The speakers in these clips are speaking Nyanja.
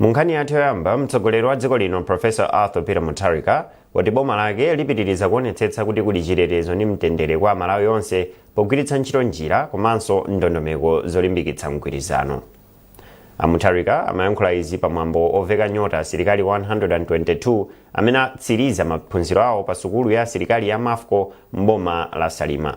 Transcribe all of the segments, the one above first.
Mu nkhani yathu yoyamba, mtsogoleri wa dziko lino Professor Arthur Peter Mutharika wati boma lake lipitiriza kuonetsetsa kuti kuli chitetezo ndi mtendere kwa Amalawi onse pogwiritsa ntchito njira komanso ndondomeko zolimbikitsa mgwirizano. A Mutharika amayankhula izi pa mwambo oveka nyota asilikali 122 amene atsiriza maphunziro awo pa sukulu ya asilikali ya Mafco m'boma la Salima.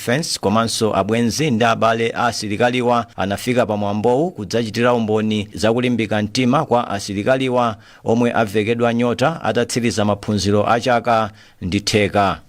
Defence komanso abwenzi ndi abale a asilikaliwa anafika pa mwambowu kudzachitira umboni za kulimbika mtima kwa asilikaliwa omwe avekedwa nyota atatsiriza maphunziro a chaka ndi theka.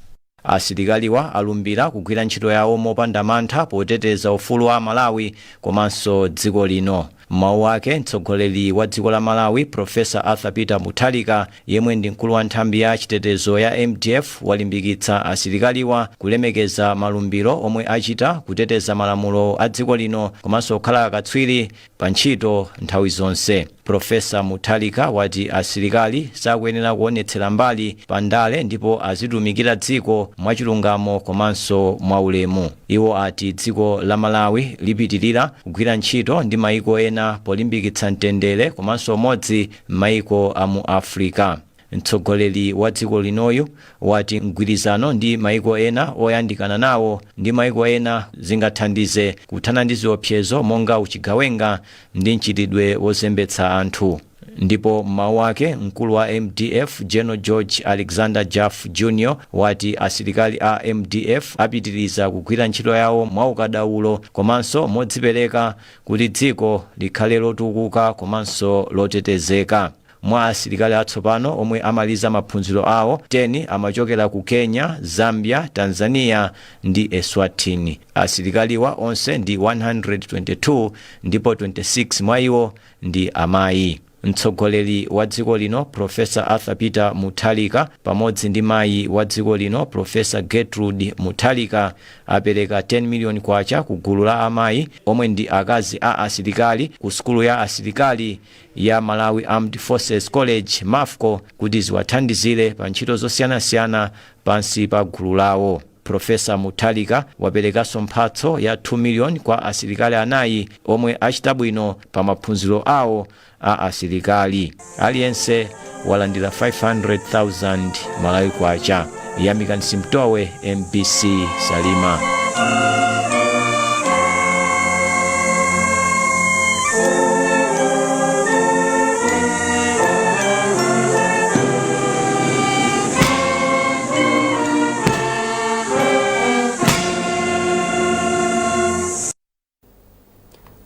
Asilikaliwa alumbira kugwira ntchito yawo mopanda mantha poteteza ufulu wa aMalawi komanso dziko lino. M'mawu ake, mtsogoleri wa dziko la Malawi, Professor Arthur Peter Mutharika, yemwe ndi mkulu wa nthambi ya chitetezo ya mdf, walimbikitsa asilikaliwa kulemekeza malumbiro omwe achita, kuteteza malamulo a dziko lino komanso kukhala akatswiri pa ntchito nthawi zonse. Professor Mutharika wati asilikali sakuyenera kuonetsera mbali pa ndale ndipo azitumikira dziko mwachilungamo komanso mwaulemu. Iwo ati dziko la Malawi lipitilira kugwira ntchito ndi maiko ena polimbikitsa mtendere komanso umodzi m'maiko a mu Africa. Mtsogoleri wa dziko linoyu wati mgwirizano ndi maiko ena oyandikana nawo ndi maiko ena zingathandize kuthana ndi ziopsezo monga uchigawenga ndi mchitidwe wozembetsa anthu. Ndipo m'mawu ake, mkulu wa mdf General George Alexander Jaffu Jr wati asilikali a mdf apitiliza kugwira ntchito yawo mwaukadaulo komanso modzipereka kuti dziko likhale lotukuka komanso lotetezeka. Mwa asilikali atsopano omwe amaliza maphunziro awo, 10 amachokera ku Kenya, Zambia, Tanzania ndi Eswatini. Asilikaliwa onse ndi 122 ndipo 26 mwa iwo ndi amayi. Mtsogoleri wa dziko lino Professor Arthur Peter Mutharika pamodzi ndi mayi wa dziko lino Professor Gertrude Mutharika apereka 10 million kwacha ku gulu la amayi omwe ndi akazi a asilikali ku sukulu ya asilikali ya Malawi Armed Forces College, Mafco, kuti ziwathandizire pa ntchito zosiyanasiyana pansi pa gulu lawo. Professor Mutharika waperekanso mphatso ya 2 million kwa asilikali anayi omwe achita bwino pa maphunziro awo a asilikali. Aliyense walandira 500,000 Malawi Kwacha. Yamikani Simtowe, mbc Salima.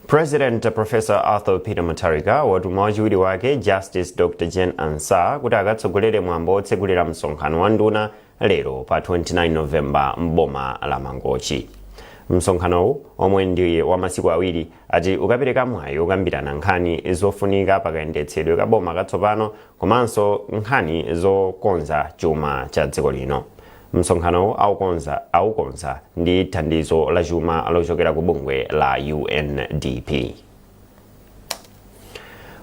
president professor arthur peter mutharika watuma wachiwiri wake justice dr jane ansah kuti akatsogolere mwambo wotsegulira msonkhano wa nduna lero pa 29 novemba m'boma la mangochi msonkhanowu omwe ndi wa masiku awiri ati ukapereka mwayi wokambirana nkhani zofunika pakayendetsedwe ka boma katsopano komanso nkhani zokonza chuma cha dziko lino. Msonkhanowu aukonza ndi thandizo la chuma lochokera ku bungwe la UNDP.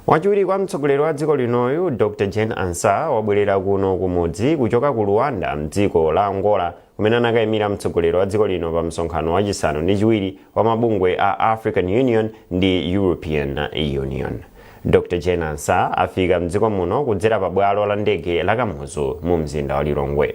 Wachiwiri kwa mtsogoleri wa dziko linoyu Dr. Jane Ansah wabwerera kuno kumudzi kuchoka ku Luanda mdziko la Angola kumene anakaimira mtsogoleri wa dziko lino pa msonkhano wachisanu ndi chiwiri wa mabungwe a african union ndi european union dr jane ansah afika mdziko muno kudzera pa bwalo la ndege la kamuzu mu mzinda wa lilongwe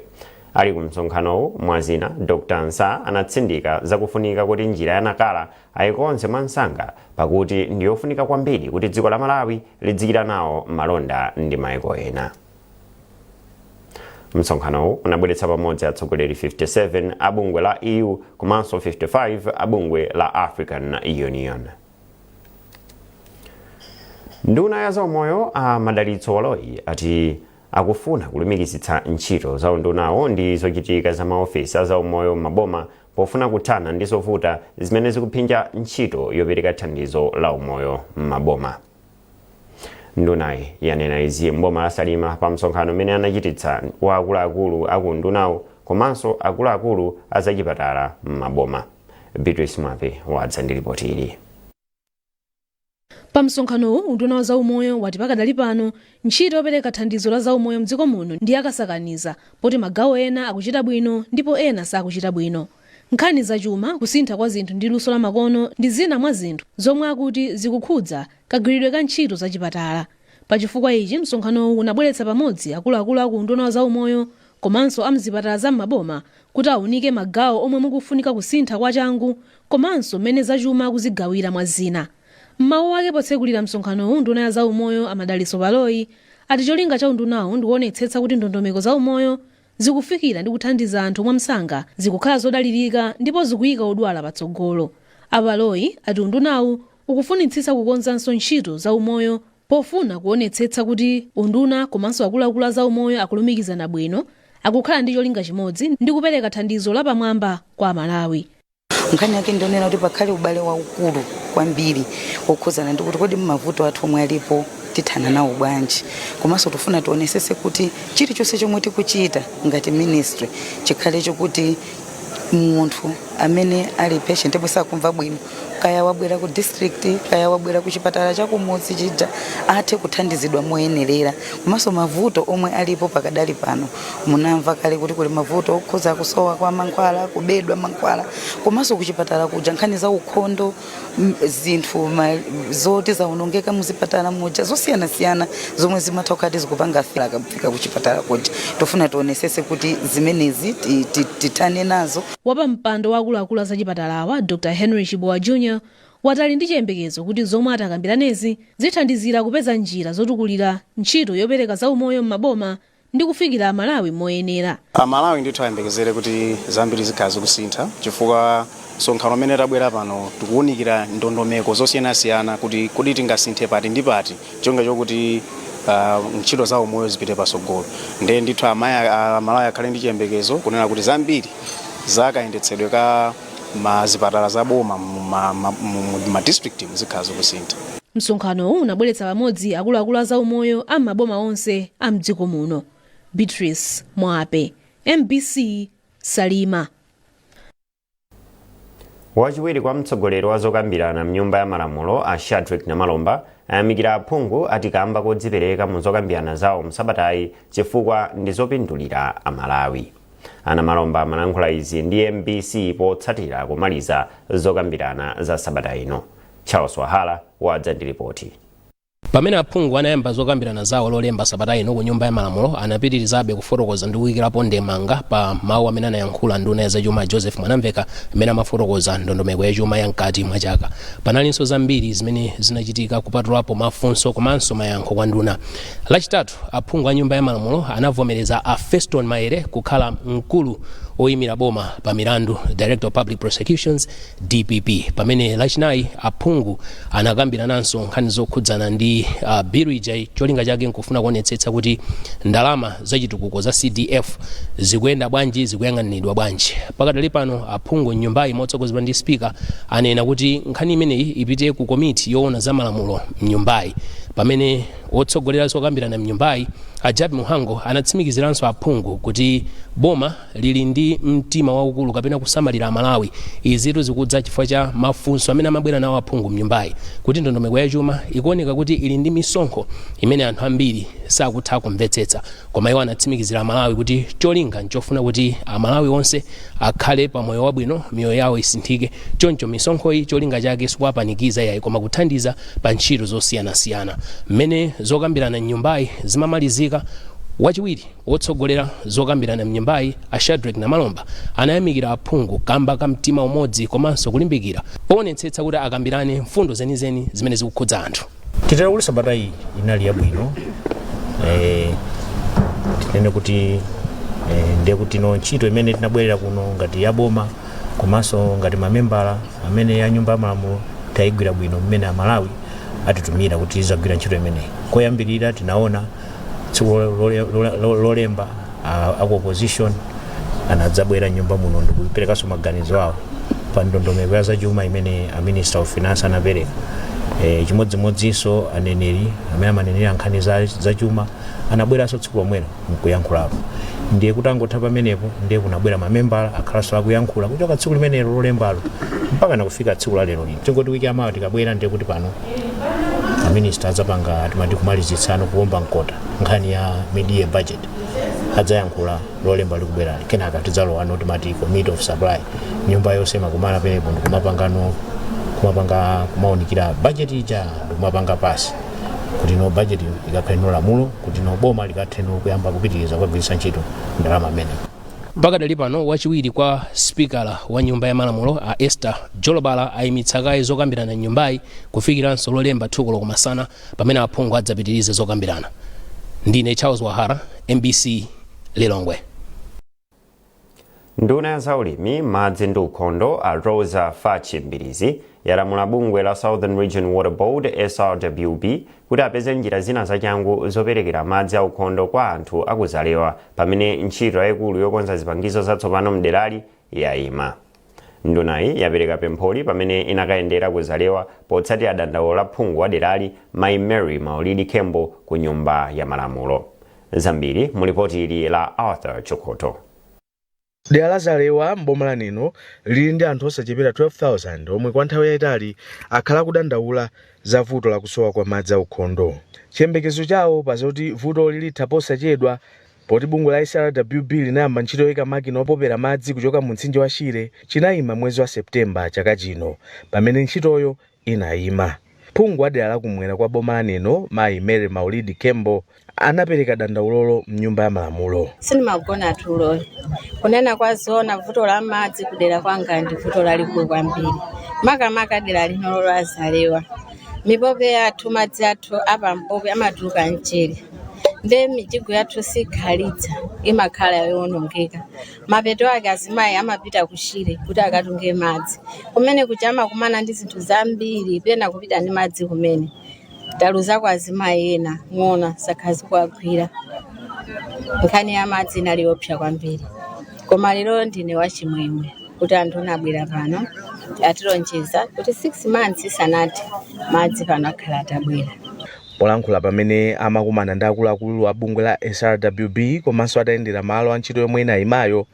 ali ku msonkhanowu mwazina dr ansah anatsindika zakufunika kuti njira ya nakala ayikonze mwamsanga pakuti ndiyofunika kwambiri kuti dziko la malawi lidzichita nawo malonda ndi maiko ena msonkhanowu unabweretsa pamodzi atsogoleri 57 a bungwe la eu komanso 55 a bungwe la african union nduna ya zaumoyo a madalitso baloyi ati akufuna kulumikizitsa ntchito za undunawu ndi zochitika za maofesi a zaumoyo m'maboma pofuna kuthana ndi zovuta zimene zikuphinja ntchito yopereka thandizo la umoyo m'maboma ndunayi yanena izi mboma la salima pa msonkhano umene anachititsa wa akuluakulu a ku undunawu komanso akuluakulu a zachipatala m'maboma beatrice mwape wadza ndi lipoti ili pa msonkhanowu unduna wa zaumoyo wati pakadali pano ntchito yopereka thandizo la zaumoyo mdziko muno ndi yakasakaniza poti magawo ena akuchita bwino ndipo ena sakuchita bwino Nkhani za chuma, kusintha kwa zinthu ndi luso la makono ndi zina mwa zinthu zomwe akuti zikukhudza kagwiridwe ka ntchito za chipatala. Pa chifukwa ichi, msonkhanowu unabweretsa pamodzi akuluakulu a ku unduna wa zaumoyo komanso a m'zipatala za m'maboma kuti aunike magawo omwe mukufunika kusintha kwa changu komanso m'mene za chuma akuzigawira mwa zina. M'mawu ake potsekulira msonkhanowu nduna ya zaumoyo a Madalitso Baloyi ati cholinga cha undunawu ndikuonetsetsa kuti ndondomeko za umoyo zikufikira ndi kuthandiza anthu mwamsanga, zikukhala zodalirika, ndipo zikuyika odwala patsogolo. A Baloyi ati undunawu ukufunitsitsa kukonzanso ntchito za umoyo pofuna kuwonetsetsa kuti unduna komanso akuluakulu a zaumoyo akulumikizana bwino, akukhala ndi cholinga chimodzi, ndi kupereka thandizo lapamwamba kwa Amalawi. nkhani yake ndi yoonera kuti pakhale ubale waukulu kwambiri wokhuzana ndi kuti kodi mavuto athu omwe alipo tithana nawo bwanji komanso tifuna tionesese kuti chilichonse chomwe tikuchita ngati ministry chikhale chokuti munthu amene ali patient yemwe sakumva bwino kaya wabwera ku district kaya wabwera ku chipatala chakumudzi chija athe kuthandizidwa moyenerera komanso mavuto omwe alipo pakadali pano munamva kale kuti kuli mavuto okhuza kusowa kwa mankhwala kubedwa mankhwala komanso kuchipatala kuja nkhani za ukhondo m- zinthu ma- zoti zaonongeka muzipatala muja zosiyanasiyana zomwe zimatha kukhala kuti zikupanga fila akafika kuchipatala kuja tufuna tionesese kuti zimenezi ti- ti- tithane nazo wapampando wa akuluakulu a zachipatalawa dr henry chibowa jr wati ali ndi chiyembekezo kuti zomwe atakambiranezi zithandizira kupeza njira zotukulira ntchito yopereka zaumoyo m'maboma ndi kufikira Amalawi moyenera. Amalawi ndithu ayembekezere kuti zambiri zikhala zikusintha chifukwa msonkhano umene tabwera pano tikuwunikira ndondomeko zosiyanasiyana kuti kodi tingasinthe pati ndi pati cholinga chokuti ah, ntchito za umoyo zipite patsogolo ndiye ndithu amaya- ah, amalawi akhale ndi chiyembekezo kunena kuti zambiri za kayendetsedwe ka ma zipatala za boma mu ma- ma- mu- mu- ma district zikhala zikusintha msonkhanowu unabweretsa pamodzi akuluakulu a zaumoyo a m'maboma onse a mdziko muno beatrice mwape mbc salima wachiwiri kwa mtsogoleri wa zokambirana mnyumba ya malamulo a shadrick namalomba ayamikira aphungu ati kamba kodzipereka mu zokambirana zawo msabatayi chifukwa ndi zopindulira amalawi a namalomba amalankhula izi ndi mbc potsatira kumaliza zokambirana za sabata ino charles wahala wadza ndi lipoti pamene aphungu anayamba zokambirana zawo lolemba sabata ino ku nyumba ya malamulo anapitirizabe kufotokoza ndi kuyikirapo ndemanga pa mawu amene anayankhula nduna ya zachuma joseph mwanamveka imene amafotokoza ndondomeko ya chuma ya mkati mwa chaka panalinso zambiri zimene zinachitika kupatulapo mafunso komanso mayankho kwa nduna Lachitatu, aphungu a Nyumba ya Malamulo anavomereza a Fostino Maele kukhala mkulu woimira boma pa milandu, Director of Public Prosecutions, dpp, pamene Lachinayi aphungu anakambirananso nkhani zokhudzana ndi uh, bilu ija cholinga chake nkufuna kuonetsetsa kuti ndalama zachitukuko za CDF zikuyenda bwanji, zikuyang'aniridwa bwanji. Pakadali pano aphungu m'nyumbayi motsogozedwa ndi spika anena kuti nkhani imeneyi ipite ku komiti yoona za malamulo m'nyumbayi pamene Wotsogolera zokambirana mnyumbayi, a Jappie Mhango anatsimikiziranso aphungu kuti boma lili ndi mtima waukulu kapena kusamalira aMalawi. Izitu zikudza chifukwa cha mafunso amene amabwera nawo aphungu mnyumbayi kuti ndondomeko ya chuma ikuoneka kuti ili ndi misonkho imene anthu ambiri sakutha kumvetsetsa. Koma iwo anatsimikizira aMalawi kuti cholinga nchofuna kuti aMalawi onse akhale pa moyo wabwino, miyoyo yawo isinthike. Choncho misonkhoyi cholinga chake sikuwapanikiza iyayi koma kuthandiza. Pa ntchito zosiyanasiyana mmene zokambirana mnyumbayi zimamalizika, wachiwiri wotsogolera zokambirana mnyumbayi a Shadric Namalomba anayamikira aphungu kamba ka mtima umodzi komanso kulimbikira powonetsetsa kuti akambirane mfundo zenizeni zimene zikukhudza anthu. Titero kuti sabata iyi inali yabwino eh, tinene kuti eh, ndiye kuti no ntchito imene tinabwerera kuno ngati yaboma komanso ngati mamembala amene a nyumba ya malamulo tayigwira bwino mmene amalawi atitumira kuti tizagwira ntchito imeneyi koyambirira tinaona tsiku lole- lole- lole- lolemba a- aku opposition anadzabwera mnyumba muno ndikuperekanso maganizo awo pa ndondomeko ya zachuma imene a minister of finance anapereka e, chimodzimodzinso aneneri amene amanenera nkhani za, za chuma anabweranso tsiku lomwelo nkuyankhulapo ndiye kutangotha pamenepo ndiye kunabwera mamembala akhalanso akuyankhula kuchoka tsiku limenelo lolembalo mpaka nakufika tsiku la lero lino tingoti wiki yamawa tikabwera ndiye kuti pano aminista adzapanga timati kumalizitsano kuomba mkota nkhani ya mid-year budget adzayankhula lolemba likubwerali kenaka tidzalowano timati committee of supply nyumba yonse imakumana penepo ndikumapangano kumapanga kumaunikira budget ija ndikumapanga pass kuti no budget ikakhale no lamulo kuti no boma likathe no kuyamba kupitiriza kukagwiritsa ntchito ndalama amene pakadali pano wachiwiri kwa sipikala wa nyumba ya malamulo a esther jolobala ayimitsa kaye zokambirana mnyumbayi kufikiranso lolemba 2 koloko masana pamene aphungu adzapitirize zokambirana ndine charles wahara mbc lilongwe Nduna ya zaulimi, madzi ndi ukhondo, a Roza Fatch Mbilizi, yalamula bungwe la Southern Region Water Board, SRWB, kuti apeze njira zina zachangu zoperekera madzi aukhondo kwa anthu a ku Zalewa pamene ntchito yayikulu yokonza zipangizo zatsopano m'derali yayima. Ndunayi yapereka pempholi pamene inakayendera ku Zalewa potsatira dandaulo la phungu wa derali Mayi Mary Maulidi Khembo ku Nyumba ya Malamulo. Zambiri mu lipoti ili la Arthur Chokhotho. Dera la Zalewa m'boma la Neno lili ndi anthu osachepera 12,000 omwe kwa nthawi yaitali akhala akudandaula za vuto la kusowa kwa madzi aukhondo. Chiyembekezo chawo pa zoti vutoli litha posachedwa Poti bungwe la SRWB linayamba ntchito yoika makina opopera madzi kuchoka mu mtsinje wa Shire chinaima mwezi wa September chaka chino pamene ntchitoyo inaima. Phungu wa dera la kumwera kwa boma la Neno mayi Mary Maulidi Khembo anapereka dandaulolo mnyumba ya malamulo. Sindimagona tulo. Kunena kwa zoona vuto la madzi kudera kwanga ndi vuto lalikulu kwambiri. Makamaka dera linolo la Zalewa. Mipope yathu madzi athu apampope amatuluka mchere. nde mijigo yathu sikhalitsa imakhala yoonongeka mapeto ake azimayi amapita ku Shire kuti akatunge madzi kumene kuja amakumana ndi zinthu zambiri pena kupita ndi madzi kumene taluzako azimayi ena ng'ona sakhazi kuwagwira nkhani ya madzi inali yopsa kwambiri koma lero ndine wachimwemwe kuti anthu anabwera pano atilonjeza kuti 6 months isanathe madzi pano akhala atabwera Polankhula pamene amakumana ndi akuluakulu a bungwe la SRWB komanso atayendera malo a ntchito yomwe inayimayo,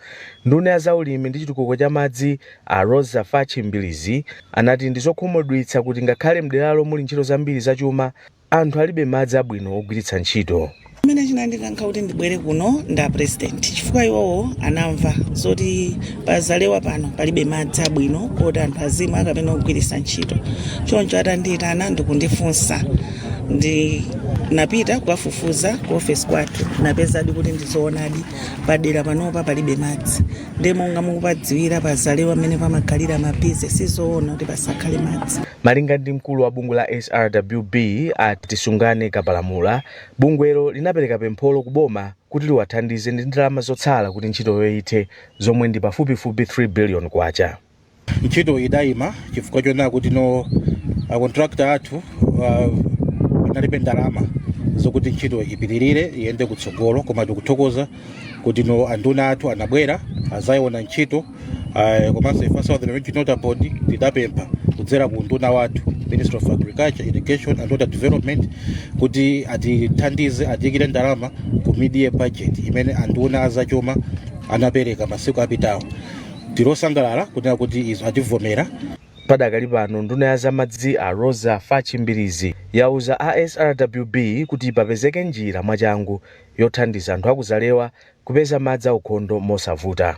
nduna ya za ulimi ndi chitukuko cha madzi a Roza Fatchi Mbilizi anati ndi zokhumudwitsa kuti ngakhale mderalo muli ntchito zambiri za chuma, anthu alibe madzi abwino ogwiritsa ntchito. chimene chinandikankha kuti ndibwere kuno ndi apresident chifukwa iwowo anamva zoti pazalewa pano palibe madzi abwino oti anthu azimwa kapena ogwiritsa ntchito choncho atandiitana ndikundifunsa ndinapita kukafufuza ku ofesi kwathu napeza kuti ndizoonadi padera panopa palibe madzi ndi monga mukupadziwira pazalewa mmene pamakhalira mabizinesi sizoona kuti pasakhale madzi malinga ndi mkulu wa bungwe la SRWB a Tisungane Kapalamula Bungwelo linapereka pempholo ku boma kuti liwathandize ndi ndalama zotsala kuti ntchitoyo ithe zomwe ndi pafupifupi K3 billion. Ntchito idayima chifukwa choona kuti no a contractor athu analibe ndalama zokuti ntchito ipitirire iyende kutsogolo koma tikuthokoza kuti no anduna athu anabwera adzayiona ntchito. Ah, komanso ife southern region water board tidapempha kudzera ku unduna wathu ministry of agriculture irrigation and water development kuti atithandize atiyikire ndalama ku mid-year budget imene anduna azachuma anapereka masiku apitawo tili osangalala kunena kuti izo ativomera padakali pano nduna ya zamadzi a Roza Fatchi Mbilizi yauza a srwb kuti papezeke njira mwachangu yothandiza anthu aku Zalewa kupeza madzi aukhondo mosavuta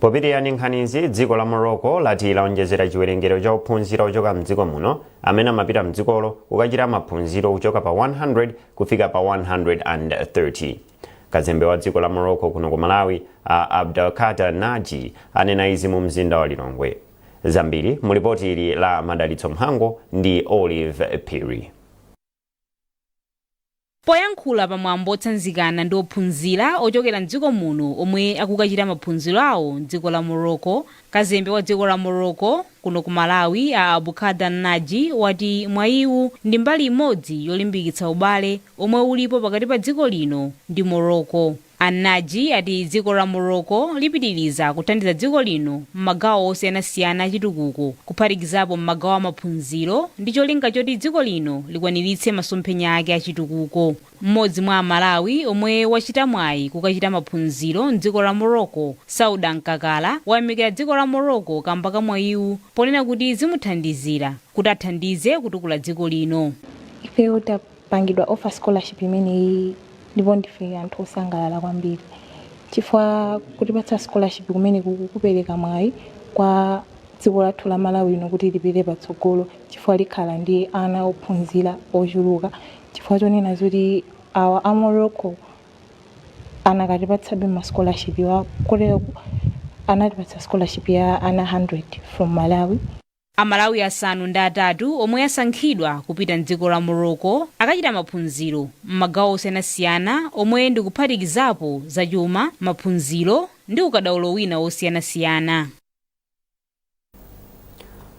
popitirira ndi nkhanizi dziko la morocco lati laonjezera chiwerengero cha ophunzira ochoka mdziko muno amene amapita mdzikolo kukachita maphunziro kuchoka pa 100 kufika pa 130 kazembe wa dziko la morocco kuno ku malawi a Abdelkader naji anena izi mu mzinda wa lilongwe zambiri mu lipoti ili la madalitso mhango ndi Olive Phiri Poyankhula pa mwambo otsanzikana ndi ophunzira ochokera m'dziko muno omwe akukachita maphunziro awo m'dziko la Morocco, Kazembe wa dziko la Morocco kuno ku Malawi a Abdelkader Naji wati mwayiwu ndi mbali imodzi yolimbikitsa ubale omwe ulipo pakati pa dziko lino ndi Morocco. A Naji ati dziko la Morocco lipitiriza kuthandiza dziko lino m'magawo osiyanasiyana a chitukuko kuphatikizapo m'magawo a maphunziro ndi cholinga choti dziko lino likwaniritse masomphenya ake a chitukuko. M'modzi mwa a Malawi omwe wachita mwayi kukachita maphunziro m'dziko la Morocco, Sauda Nkakala, wayamikira dziko la Morocco kamba ka mwayiwu ponena kuti zimuthandizira kuti athandize kutukula dziko lino. Ife oda Pangidwa offer scholarship imeneyi ndipo ndife anthu osangalala kwambiri chifukwa kutipatsa scholarship kumenekuku kupereka mwayi kwa dziko lathu la Malawi lino kuti lipite patsogolo chifukwa likhala ndi ana ophunzira ochuluka chifukwa chonena zoti awa a Morocco anakatipatsabe ma scholarship wa koteroku anatipatsa scholarship ya ana 100 from Malawi. Amalawi asanu ndi atatu omwe asankhidwa kupita m'dziko la Morocco akachita maphunziro m'magawo osiyanasiyana omwe ndi kuphatikizapo zachuma, maphunziro ndi ukadaulo wina wosiyanasiyana.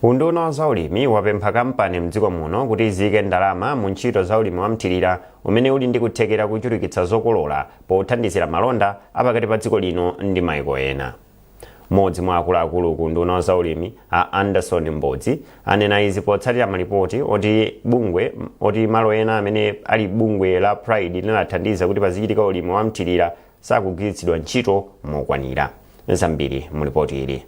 Unduna wa zaulimi wapempha kampani mdziko muno kuti ziike ndalama mu ntchito za ulimi wamthirira umene uli ndi kuthekera kuchulukitsa zokolola pothandizira malonda apakati pa dziko lino ndi maiko ena. Mmodzi mwa akuluakulu ku unduna wa zaulimi a Anderson Mbodzi anena izi potsatira malipoti oti malo ena amene ali bungwe la Pride linathandiza kuti pazichitika ulimi wa mthirira sakugwiritsidwa ntchito mokwanira. Zambiri mu lipoti ili.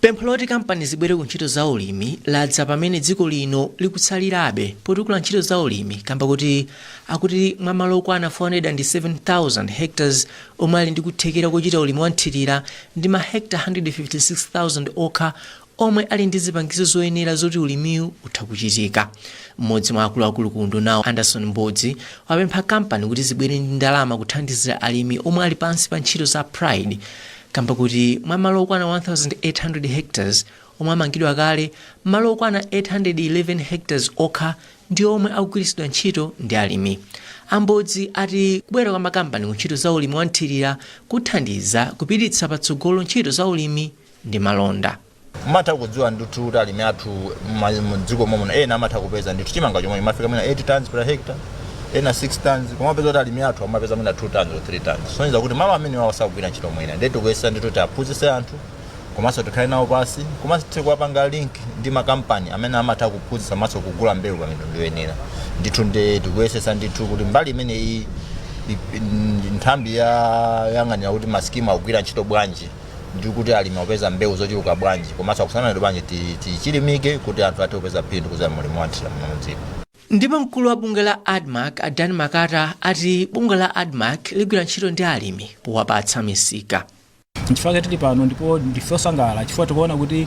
Pempho loti kampani zibwere ku ntchito za ulimi ladza pamene dziko lino likutsalirabe potukula ntchito za ulimi kamba koti akuti mwa malo okwana 407,000 hectares omwe ali ndi kuthekera kochita ulimi wa mthirira ndi ma hecta 156,000 okha omwe ali ndi zipangizo zoyenera zoti ulimiwu utha kuchitika. M'modzi mwa akuluakulu ku undunawu Anderson Mbodzi wapempha kampani kuti zibwere ndi ndalama kuthandizira alimi omwe ali pansi pa ntchito za Pride kamba koti mwa malo okwana 1,800 hectares omwe amangidwa kale, malo okwana 811 hectares okha ndi omwe akugwiritsidwa ntchito ndi alimi. A Mbodzi ati kubwera kwa makampani ku ntchito za ulimi wa mthirira kuthandiza kupititsa patsogolo ntchito za ulimi ndi malonda. mmatha kudziwa ndithu kuti alimi athu ma- mdziko momwe ena amatha kupeza ndithu chimanga chomwe chimafika mwina 8 tons per hectare ena 6 tons koma mupeza kuti alimi athu amapeza mwina 2 tons or 3 tons kusonyeza kuti malo amenewo sakugwira ntchito mwina ndiye tikuyesetsa ndithu kuti tiwaphunzitse anthu komanso tikhale nawo pansi komanso tikuwapanga link ndi makampani amene amatha kuphunzitsa komanso kugula mbewu pa mitundu yoyenera ndithu ndi tikuyesetsa ndithu kuti mbali imeneyi i- i- nthambi yoyang'anira kuti masikimu akugwira ntchito bwanji ndi kuti alimi akupeza mbewu zochuluka bwanji komanso akusamala madzi bwanji ti- tichilimike kuti anthu athe kupeza phindu kudzera mu ulimi wa nthirira muno mdziko ndipo mkulu wa bungwe la admarc a dan makata ati bungwe la admarc ligwira ntchito ndi alimi powapatsa misika nchifukwa tili pano ndipo ndife osangalala chifukwa tikuona kuti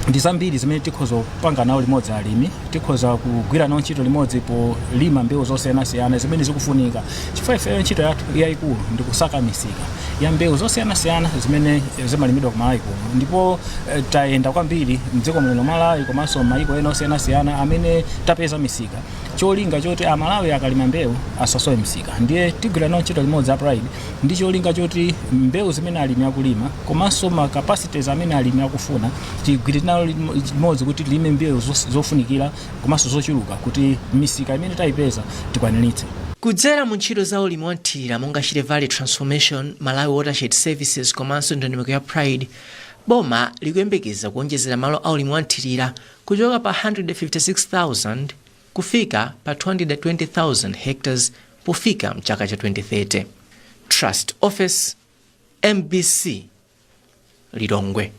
ndi zambiri zimene tikhoza kupanga nawo limodzi alimi tikhoza kugwira nawo ntchito limodzi polima mbewu zosiyanasiyana zimene zikufunika chifukwa ifeyo ntchito yathu yayikulu ndi kusaka misika ya mbewu zosiyanasiyana zimene zimalimidwa ku malawi kuno ndipo eh, tayenda kwambiri mdziko muno malawi komanso mayiko ena osiyanasiyana amene tapeza misika cholinga choti amalawi akalima mbewu asasowe misika ndiye tigwira nawo ntchito limodzi a pride ndi cholinga choti mbewu zimene alimi akulima komanso ma capacities amene alimi akufuna tigwire nawo limo- limodzi kuti tilime mbewu zos- zofunikira komanso zochuluka kuti misika imene tayipeza tikwaniritse. Kudzera mu ntchito za ulimi wa mthirira monga Shire Valley Transformation, Malawi Watershed Services komanso ndondomeko ya pride, boma likuyembekeza kuwonjezera malo a ulimi wa mthirira kuchoka pa 156,000 kufika pa 220,000 hectares pofika mchaka cha 2030. Trust Ofesi, mbc, Lilongwe.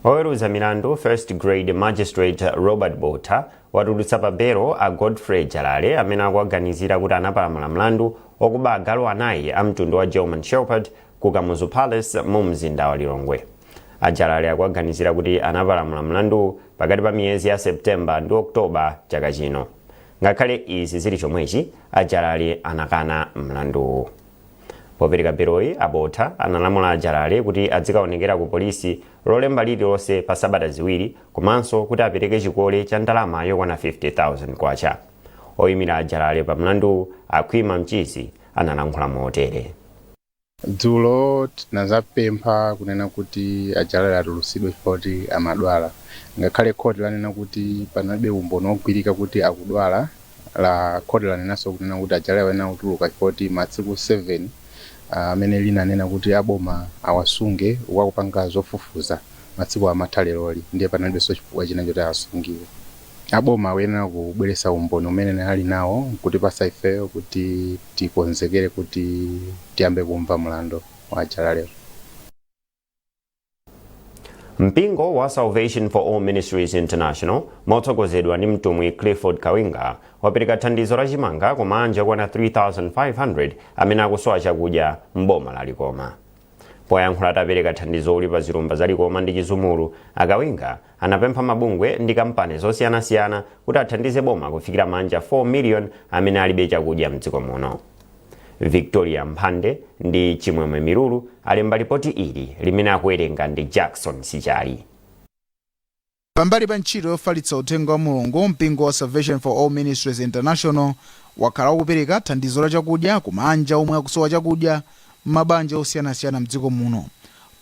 oweruza milandu first grade magistrate robert botha watulutsa pa belo a godfrey jalale amene akuwaganizira kuti anapalamula mlandu wokuba agalu anayi a mtundu wa german shepherd ku kamuzu palace mu mzinda wa lilongwe a jalale akuwaganizira kuti anapalamula mlanduwu pakati pa miyezi ya september ndi oktoba chaka chino ngakhale izi zili chomwechi a jalale anakana mlanduwu Popereka beloyi, a Botha analamula a Jalale kuti adzikaonekera ku polisi Lolemba lililonse pa sabata ziwiri komanso kuti apereke chikole cha ndalama yokwana K50,000. Oimira a Jalale pa mlanduwu, a Khwima Mchizi, analankhula motere. Dzulo tinadzapempha kunena kuti a Jalale atulutsidwe chifukwa choti amadwala. Ngakhale khoti lanena kuti panalibe umboni wogwirika kuti akudwala, la khoti lanenanso kunena kuti a Jalale ayenera kutuluka chifukwa choti masiku 7 amene linanena kuti a boma awasunge uku akupanga zofufuza masikuwa amatha leroli ndiye panalibenso chifukwa china choti awasungire. A boma akuyenera kubweretsa umboni umene ali nawo n'kutipatsa ifeyo kuti tikonzekere kuti tiyambe kumva mlandu wa a Jalale. mpingo wa salvation for all ministries international motsogozedwa ndi mtumwi clifford kawinga wapereka thandizo la chimanga kwa maanja okwana 3500 amene akusowa chakudya m'boma la likoma poyankhula atapereka thandizoli pa zilumba za likoma ndi chizumulu a kawinga anapempha mabungwe ndi kampani zosiyanasiyana kuti athandize boma kufikira maanja 4 million amene alibe chakudya mdziko muno. Victoria Mphande ndi Chimwemwe Milulu alemba lipoti ili limene akuwerenga ndi Jackson Sichali. Pambali pa ntchito yofalitsa uthenga wa Mulungu, mpingo wa Salvation for All Ministries International wakhala ukupereka thandizo la chakudya ku maanja omwe akusowa chakudya mmaboma osiyanasiyana mdziko muno.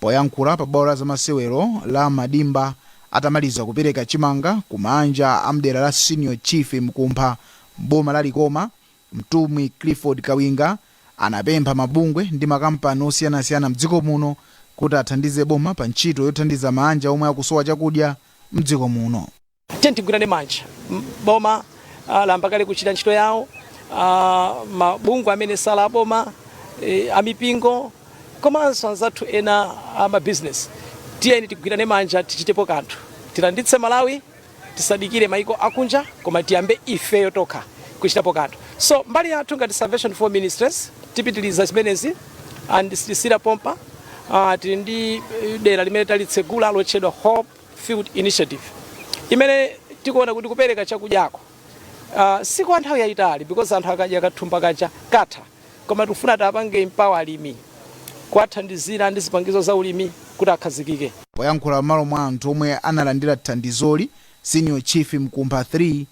Poyankhula pa bwalo la zamasewero la Madimba atamaliza kupereka chimanga ku maanja a mdera la Senior Chief Mkumpha m'boma la Likoma, Mtumwi Clifford Kawinga anapempha mabungwe ndi makampani osiyanasiyana mdziko muno kuti athandize boma pa ntchito yothandiza maanja omwe akusowa chakudya mdziko muno. Tiyeni tigwirane manja. M- Boma ah, layamba kale kuchita ntchito yawo, ah, mabungwe amene sali aboma, eh, amipingo komanso anzathu ena a mabizinesi. Tiyeni tigwirane manja tichitepo kanthu, tilanditse Malawi, tisadikire maiko akunja koma tiyambe ifeyo tokha kuchitapo kanthu. So mbali yathu ngati Salvation for Ministries tipitiliza zimenezi and sitisiyira pompa. Ah, tili ndi eh, dera limene talitsegula lotchedwa Hope Field Initiative imene tikuona kuti kupereka chakudyako uh, si kwa nthawi yayitali because anthu akadya kathumba kaja katha koma tikufuna tiapange empower alimi kuwathandizira ndi zipangizo za ulimi kuti akhazikike. Poyankhula m'malo mwa anthu omwe analandira thandizoli, Senior Chief Mkumpha 3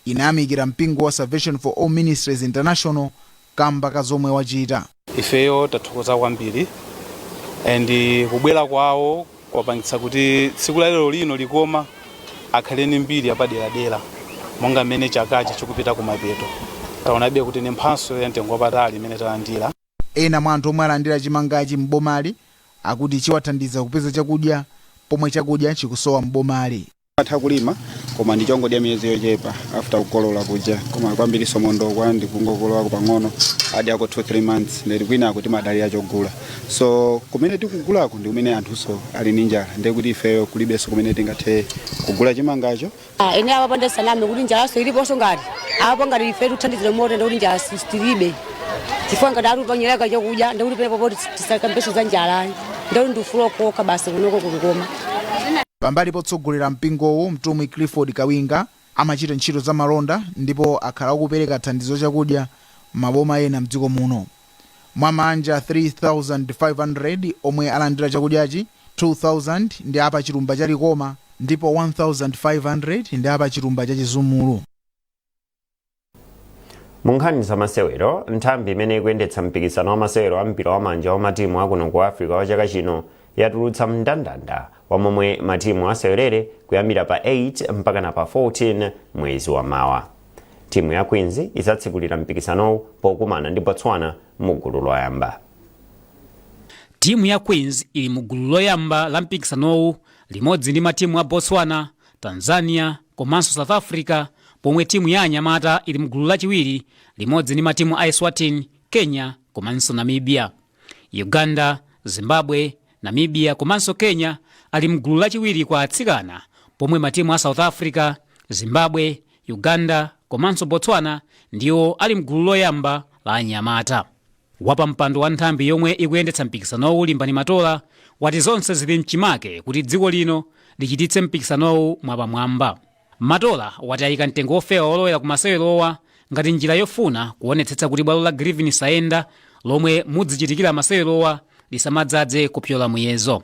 inayamikira mpingo wa Salvation for All Ministries International kamba ka zomwe wachita. Ifeyo tathokoza kwambiri and kubwera kwawo kwapangitsa kuti tsiku la lero lino likoma akhale ni mbiri yapaderadera monga mmene chakachi chikupita kumapeto taonabe kuti ni mphatso ya mtengo wapatali imene talandira Ena mwa anthu omwe alandira chimangachi m'bomali akuti chiwathandiza kupeza chakudya pomwe chakudya chikusowa m'bomali. atha kulima koma ndi chongodya miyezi yochepa after kukolola kuja koma kwambiri so mondokwa ndikungokololako pang'ono adi ako 2-3 months ndeti kwina akuti timadalira chogula so kumene tikugulako ndi kumene anthuso ali ndi njala ndiye kuti ifeyo kulibenso kumene tingathe kugula chimangacho Ah, eni apa panda saname kuti njalaso iliponso ngati apo ngati ife tuthandizire moto ndikuti njala sitilibe chifukwa ngati ali panyereka chokudya ndikuti penepo poti tisakambeso za njalayi ndikuti ndifula okokha basi kunoko ku Likoma Pambali potsogolera mpingowu, Mtumwi Clifford Kawinga amachita ntchito za malonda ndipo akhala akupereka thandizo chakudya mmaboma ena mdziko muno. Mwa maanja 3,500 omwe alandira chakudyachi, 2,000 ndi a pa chilumba cha Likoma ndipo 1,500 ndi a pa chilumba cha Chizumulu. munkhani za masewero nthambi imene ikuyendetsa mpikisano wa masewero a mpira wa manja wa matimu akuno ku africa wa chaka chino yatulutsa mndandanda wa momwe matimu asewerere kuyambira pa 8 mpaka na pa 14 mwezi wa mawa timu ya queens izatsekulira mpikisanowu pokumana ndi botswana mu gulu loyamba timu ya queens ili mu gulu loyamba la mpikisanowu limodzi ndi matimu a botswana Tanzania komanso South Africa pomwe timu ya anyamata ili mgulu lachiwiri limodzi ndi matimu a Eswatini, Kenya komanso Namibia. Uganda, Zimbabwe, Namibia komanso Kenya ali mgulu lachiwiri kwa atsikana pomwe matimu a South Africa, Zimbabwe, Uganda komanso Botswana ndiwo ali mgulu loyamba la anyamata. Wapampando wa nthambi yomwe ikuyendetsa mpikisanowu Limbani Matola wati zonse zili mchimake kuti dziko lino lichititse mpikisanowu mwapamwamba. Matola wati ayika mtengo wofewa wolowera ku masewerowa ngati njira yofuna kuonetsetsa kuti bwalo la Griffin Saenda lomwe mudzichitikira masewerowa lisamadzadze kupyola muyezo.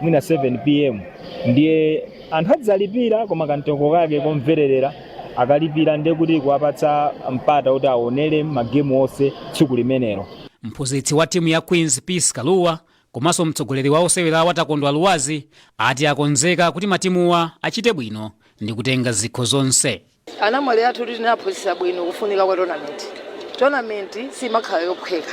mwina 7 pm ndiye anthu adzalipira koma kamtengo kake komvererera akalipira ndiye kuti kuwapatsa mpata kuti aonere magemu onse tsiku limenelo mphunzitsi wa timu ya queens peace kaluwa komanso mtsogoleri wa osewerawa takondwa lwazi ati akonzeka kuti matimuwa achite bwino ndi kutenga zikho zonse Anamwali athu tinaphunzitsa bwino kufunika kwa tonamenti. Tonamenti siimakhala yophweka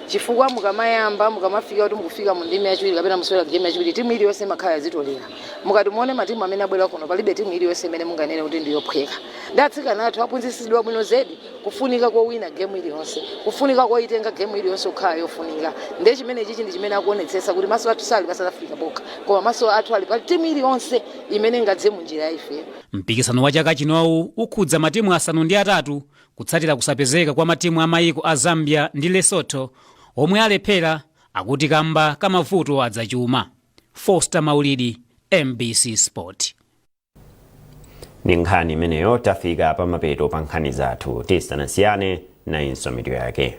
chifukwa mukamayamba, mukamafika kuti mukufika mu ndime yachiwiri kapena musewera gemu yachiwiri, timu iliyonse imakhala yazitolera. Mukati muone matimu amene abwera kuno, palibe timu iliyonse imene munganene kuti ndi yophweka. Ndi atsikana athu aphunzitsidwa bwino zedi kufunika kowina gemu iliyonse, kufunika koitenga gemu iliyonse kukhala yofunika. Ndiye chimenechichi ndi chimene tikuonetsetsa kuti maso athu sali pa South Africa pokha, koma maso athu ali pa timu iliyonse imene ingadze mu njira ya ifeyo. Mpikisano wa chaka chinowu ukhudza matimu asanu ndi atatu kutsatira kusapezeka kwa matimu a mayiko a Zambia ndi Lesotho omwe alephera akuti kamba ka mavuto azachuma. Foster Maulidi, MBC Sport. Ndi nkhani imeneyo tafika pamapeto pa nkhani zathu. Tisanasiyane, nayinso mitu yake.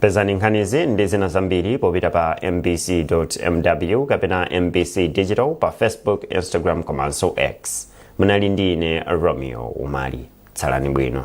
pezani nkhanizi ndi zina zambiri popita pa mbc mw kapena mbc digital pa facebook instagram komanso x munali ndi ine romeo umali tsalani bwino